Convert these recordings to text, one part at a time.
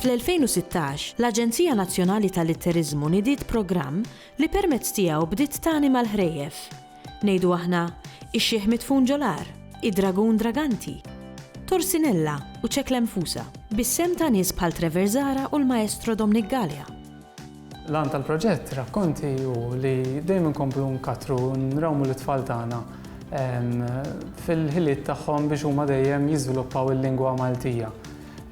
Fl-2016, l-Aġenzija Nazzjonali tal-Litteriżmu nidiet programm li permezz tiegħu bdiet tagħni mal-ħrejjef. Ngħidu aħna, ix-xiħ midfun ġol-għar, id-dragun draganti, Torsinella u Ċek Lemfusa, bis-sehem ta' nies bħal Trevor Zahra u l-Maestro Domnic Galea. L-għan tal-proġett Rakkonti hu li dejjem inkomplu nkattru u nrawmu lit-tfal tagħna fil-ħiliet tagħhom biex huma dejjem jiżviluppaw il-lingwa Maltija.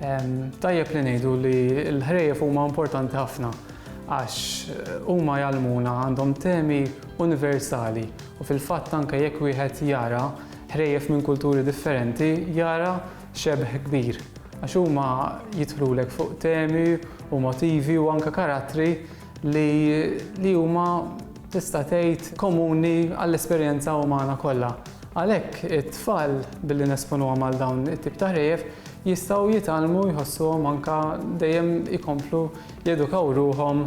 Tajjeb li ngħidu li l-ħrejjef huma importanti ħafna għax huma jgħallmuna, għandhom temi, universali u fil-fatt anke jekk wieħed jara ħrejjef minn kulturi differenti jara xebh kbir għax huma jidħlulek fuq temi u motivi u anke karattri li li huma tista' tgħid komuni għall-esperjenza umana kollha. Għalhekk it-tfal billi nesponuhom għal dawn it-tip ta' ħrejjef jistgħu jitgħallmu jħossuhom anke dejjem ikomplu jedukaw ruħhom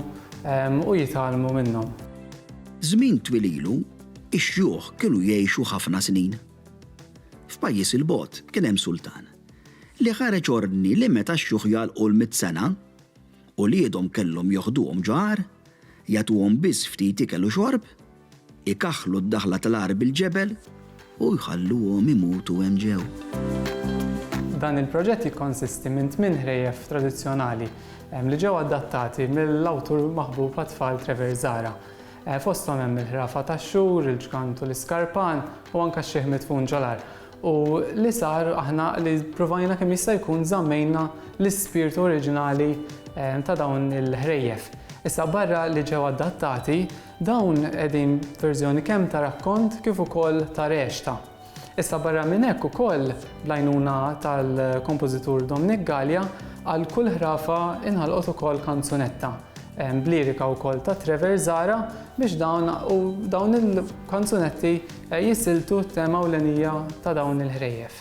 u jitgħallmu minnhom. Żmien twil ilu, ix-xjuħ kienu jgħixu ħafna snin. F'pajjiż 'il bogħod kien hemm sultan, li ħareġ ordni li meta x-xjuħ jagħlqu l-mitt sena, uliedhom kellhom joħduhom ġo għar, jagħtuhom biss ftit ikel u xorb, ikaħħlu d-daħla tal-għar bil-ġebel, U jħalluhom imutu hemm ġew. Dan il-proġett jikkonsisti minn tmien ħrejjef tradizzjonali li ġew adattati mill-awtur maħbub għat-tfal Trevor Zahra. Fosthom hemm il-ħrafa tax-xhur, il-ġgant u l-iskarpan u anke x-xiħ midfun ġol-għar. U li sar aħna li ppruvajna kemm jista' jkun żammejna l-ispirtu oriġinali ta' dawn il-ħrejjef. Issa barra li ġew adattati, Dawn qegħdin f'verżjoni kemm ta' rakkont kif ukoll ta' rexta. Issa barra minn hekk ukoll, bl-għajnuna tal-kompożitur Dominic Galea, għal kull ħrafa inħalqot ukoll kanzunetta, b'lirika wkoll ta' Trevor Zahra biex dawn u dawn il-kanzunetti jisiltu t-tema ewlenija ta' dawn il-ħrejjef.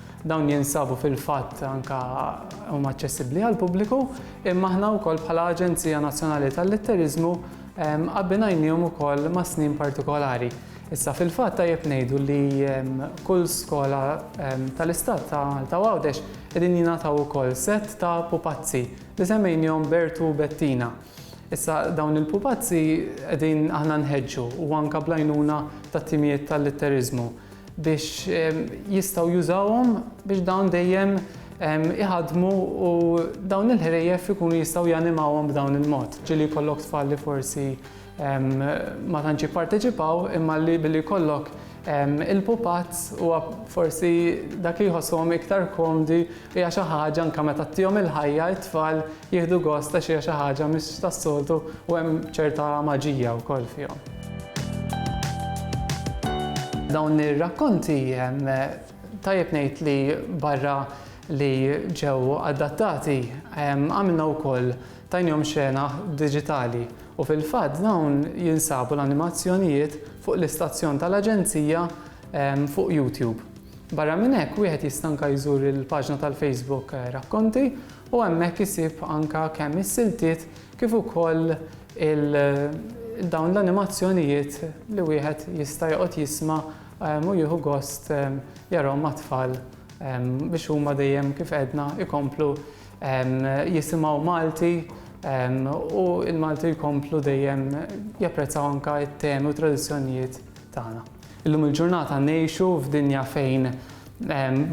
Dawn jinsabu fil-fatt anke huma aċċessibbli għall-pubbliku, imma aħna wkoll bħala Aġenzija Nazzjonali tal-Litteriżmu abbinajniehom ukoll ma' snin partikolari. Issa fil-fatt tajjeb ngħidu li kull skola tal-Istat ta' Malta u Għawdex qegħdin jingħataw ukoll sett ta' pupazzi li semmejniehom Bertu u Bettina. Issa dawn il-pupazzi qegħdin aħna nħeġġu u anke bl-għajnuna tat-timijiet tal-litteriżmu. biex jistgħu jużawhom biex dawn dejjem iħaddmu u dawn il-ħrejjef ikunu jistgħu janimawhom b'dawn il-mod. Ġieli jkollok tfal li forsi ma tantx jipparteċipaw imma li billi jkollok il-pupazz huwa forsi dak li jħossuhom iktar komdi Hija xi ħaġa anke meta tihom il-ħajja it-tfal jieħdu gost għax hija xi ħaġa mhix tas-soltu u hemm ċerta maġija wkoll fihom. Dawn ir-rakkonti tajjeb ngħid li barra li ġew adattati għamilna wkoll tajnihom xena diġitali u fil-fatt dawn jinsabu l-animazzjonijiet fuq l-istazzjon tal-Aġenzija fuq YouTube. Barra minn hekk, wieħed jista' anke jżur il-paġna tal-Facebook Rakkonti u hemmhekk isib anke kemm is-siltiet kif ukoll dawn l-animazzjonijiet li wieħed jista' joqgħod jisma' u jieħu gost jarahom mat-tfal biex huma dejjem kif għedna jkomplu jisimgħu Malti u l-Malti jkomplu dejjem japprezzaw anke t-temi u t-tradizzjonijiet tagħna. Illum il-ġurnata ngħixu f'dinja fejn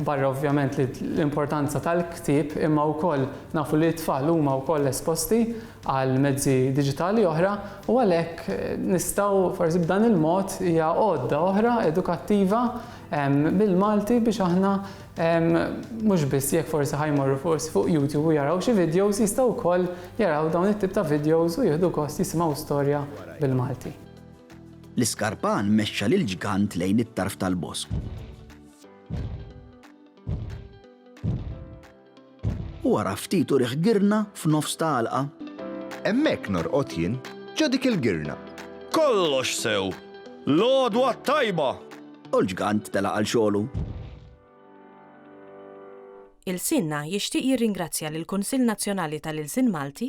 barra ovvjament l-importanza tal-ktieb imma wkoll nafu li t-tfal huma wkoll esposti għal mezzi diġitali oħra u għalhekk nistgħu forsi b'dan il-mod hija għodda oħra edukattiva bil-Malti biex aħna mhux biss jekk forsi ħajmorru forsi fuq YouTube u jaraw xi videos jistgħu wkoll jaraw dawn it-tip ta' videos u jieħdu kost jisimgħu storja bil-Malti. L-iskarpan mexxa lill-ġgant lejn it-tarf tal-bosk. U wara ftit urih girna f'nofs ta' għalqa. Hemmhekk norqod jien, ġo dik il-girna. Kollox sew! L-għodwa t-tajba! U l-ġgant telaq għal xogħlu. Ilsienna jixtieq jirringrazzja lill-Kunsill Nazzjonali tal-Ilsien Malti,